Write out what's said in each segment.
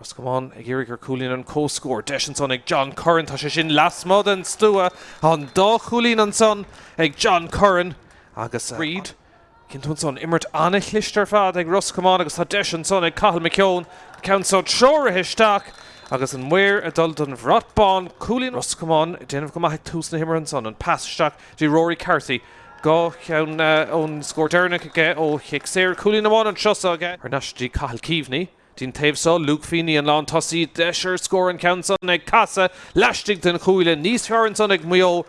Ros Comáin ag iarraidh ar chúilín an comhscór. Deis ansan ag John Curran. Tá sé sin lasmuigh den stua. Tá an dá chúilín ansan ag John Curran agus Reid. Cinntiú ansan, imirt an-chliste ar fad ag Ros Comáin agus tá deis ansan ag Cathal McKeown. Ceann so treoraithe isteach agus an maor ag dul don bhrat bán. Cúilín Ros Comáin ag déanamh go maith ag tús na himeartha ansan. An pas isteach go dtí Rory Carthy. Dhá cheann ó an scór deireanach aige ó chic saor. Cúilín amháin anso aige. Thar n-ais dtí Cathal Keaveney. Dtí'n taobh so Luke Feeney an lán tosaí deis ar scór an ceann san ag casadh laistigh den chuaille. Níos fearr ansan ag Maigh Eo.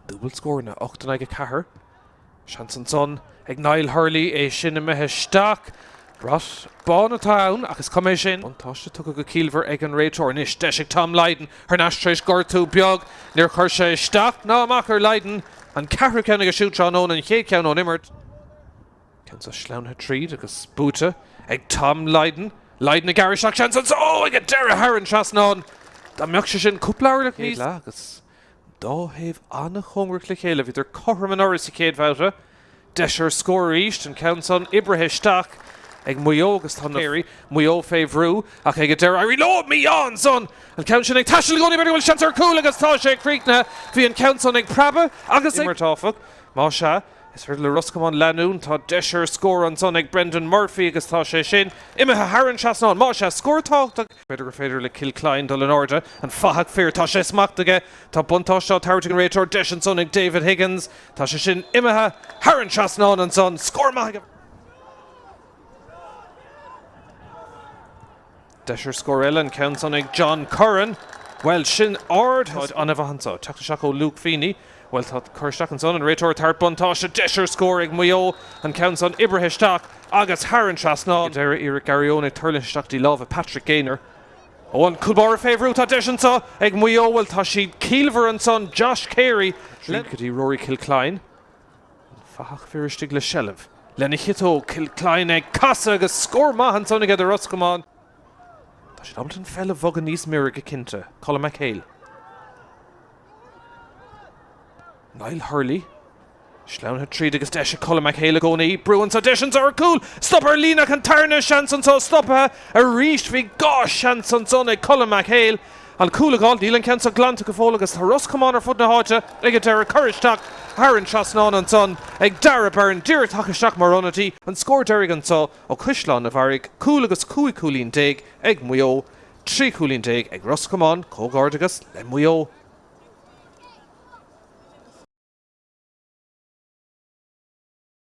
Dúbailt scór ann 8 4. Seans ansan ag Niall Hurley é sin imithe isteach. Brat bán atá ann ach is cuma é sin. Buntáiste tugtha go ciallmhar ag an réiteoir anois. Deis ag Tom Lydon thar n-ais tar éis gortú beag. Níor chuir sé isteach ná amach ar Lydon, an ceathrú ceann aige siúd tráthnóna, an chéad cheann ón imirt. Ceann seo sleamhnaithe tríd agus buaite ag Tom Lydon. Lydon ag gearradh isteach seans anso ag an deireadh thar an trasnán. Dá mbeadh sé sin cúpla orlach níos agus an dá thaobh an-chóngarach le chéile, bhíodar cothrom anuraidh sa chéad bhabhta. Deis ar scór arís, an ceann san oibrithe isteach ag Maigh Eo agus tá imreoirí Mhaigh Eo fé bhrú ach ag an deireadh éiríonn leo! Meehan san! An ceann sin ag taisteal i gcónaí b'fhéidir go bhfuil seans ar chúl agus tá sé críochnaithe. Bhí an ceann san ag preabadh agus ag imeacht áfach. Má sea, is féidir le Ros Comáin leanúint. Tá deis ar scór ansan ag Brendan Murphy agus tá sé sin imithe thar an trasnán. Má sea, scór tábhachtach. B'fhéidir is féidir le Kilcline dul in airde. An fathach fir, tá sé smacht aige! Tá buntáiste á tabhairt ag an réiteoir. Deis ansan ag David Higgins. Tá sé sin imithe thar an trasnán ansan. Scór maith. Deis ar scór eile. An ceann san ag John Curran. Bhuel, sin ard. Tá an-mhaith anso. Teacht isteach ó Luke Feeney. Bhuel tá cur isteach ansan, an réiteoir thart, buntáiste, deis ar scór ag Maigh Eo, an ceann san oibrithe isteach agus thar an trasnán. Ag deireadh iarracht Garry Eoin ag tuirlingt isteach go dtí lámha Patrick Gaynor. Ó an cúl báire fé bhrú, tá deis anso ag Maigh Eo, bhuel tá siad ciallmhar ansan, Josh Carey. Tríd go dtí Rory Kilcline, an fathach fir istigh le seilbh, lena chiotóg, Kilcline ag casadh agus scór maith ansan aige do Ros Comáin. Tá siad ábalta an pheil a bhogadh níos mire go cinnte, Colm McHale. Niall Hurley, sleamhnaithe tríd agus deis ag Colm McHale i gcónaí. Brú anso, deis anso ar chúl! Stop ar líne ag an tarna, seans anso, stopaithe arís! Bhí dhá sheans ansan ag Colm McHale. An cúl a dh'fháil, níl an ceann seo glanta go fóill agus tá Ros Comáin ar fud na háite ag an deireadh. Cur isteach thar an trasnán ansan ag Dara Byrne, díreach tagtha isteach mar ionadaí. An scór deiridh anso ó Chaisleán a' Bharraigh, cúl agus cúig chúilín déag ag Maigh Eo. 13 chúilín ag Ros Comáin, comhghairdeachas le Maigh Eo.